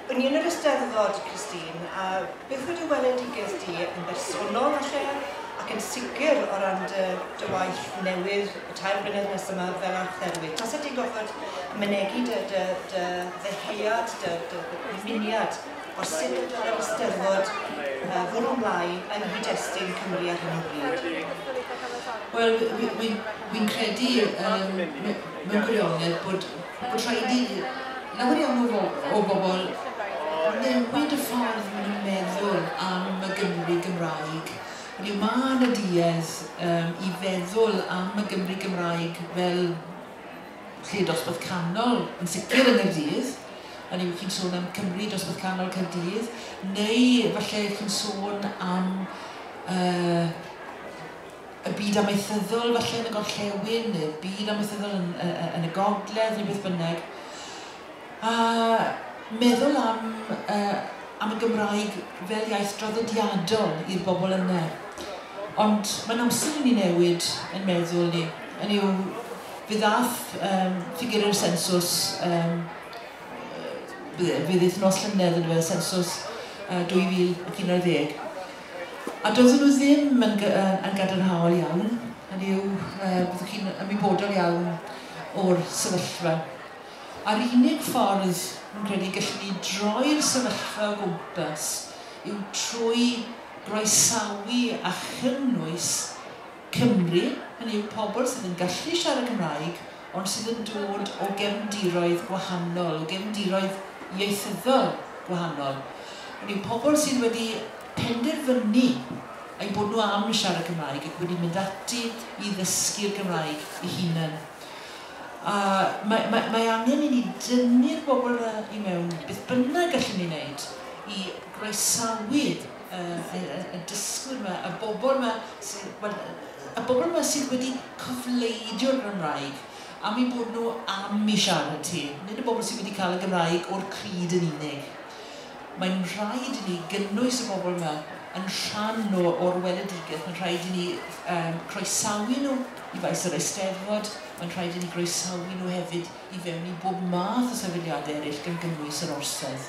O'n i yn yr Eisteddfod, Christine, a byth wedi weledigaeth di yn bersonol a lle, ac yn sicr o ran dy, dy waith newydd y tair blynedd nes yma fel archdderwydd. Tase ti'n gorfod mynegi dy, dy, dy ddeheuad, dy, dy, dy ddymuniad o sut y dylai'r Eisteddfod uh, fwrw ymlaen yng nghyd-destun Cymru ar hyn o bryd? Wel, wy'n credu um, mewn gwirionedd bod bod rhaid i lawer iawn o fo- o bobl newid y ffordd maen nhw'n meddwl am y Gymru Gymraeg. Hynny yw, mae yna duedd um, i feddwl am y Gymru Gymraeg fel lle dosbarth canol, yn sicr yn Nghaerdydd, hynny yw chi'n sôn am Cymru dosbarth canol Caerdydd, neu falle chi'n sôn am uh, y byd amaethyddol falle yn y gorllewin, neu'r byd amaethyddol yn, uh, yn y gogledd, neu beth bynnag. A meddwl am, uh, am y Gymraeg fel iaith draddodiadol i'r bobl yna. Ond mae'n amser i ni newid yn meddwl ni. Yn yw, fe ddath um, ffigur yr sensws, um, fe ddaeth nos llynedd yn y sensws uh, 2011, A doeddwn nhw ddim yn yn gadarnhaol iawn, hynny yw, byddwch chi'n ymwybodol iawn o'r sefyllfa. A'r unig ffordd, rwy'n credu, y gellwn ni droi'r sefyllfa o gwmpas yw trwy groesawu a chynnwys Cymru, hynny yw pobl sydd yn gallu siarad Cymraeg ond sydd yn dod o gefndiroedd gwahanol, o gefndiroedd ieithyddol gwahanol. Hynny yw pobl sydd wedi penderfynu eu bod nhw am siarad Cymraeg ac wedi mynd ati i ddysgu'r Gymraeg eu hunain. A mae, mae, mae angen i ni dynnu'r bobl yna i mewn, beth bynnag gallwn ni wneud i groesawu y dysgwyr 'ma, y bobl 'ma sy... wel, y bobl 'ma sydd wedi cofleidio'r Gymraeg am eu bod nhw am i siarad hi, nid y bobl sydd wedi cael y Gymraeg o'r crud yn unig. Mae'n rhaid i ni gynnwys y bobl 'ma yn rhan o o'r weledigaeth, mae'n rhaid i ni yym croesawu nhw i faes yr Eisteddfod, mae'n rhaid i ni groesawu nhw hefyd i fewn i bob math o sefydliadau eraill gan gynnwys yr Orsedd.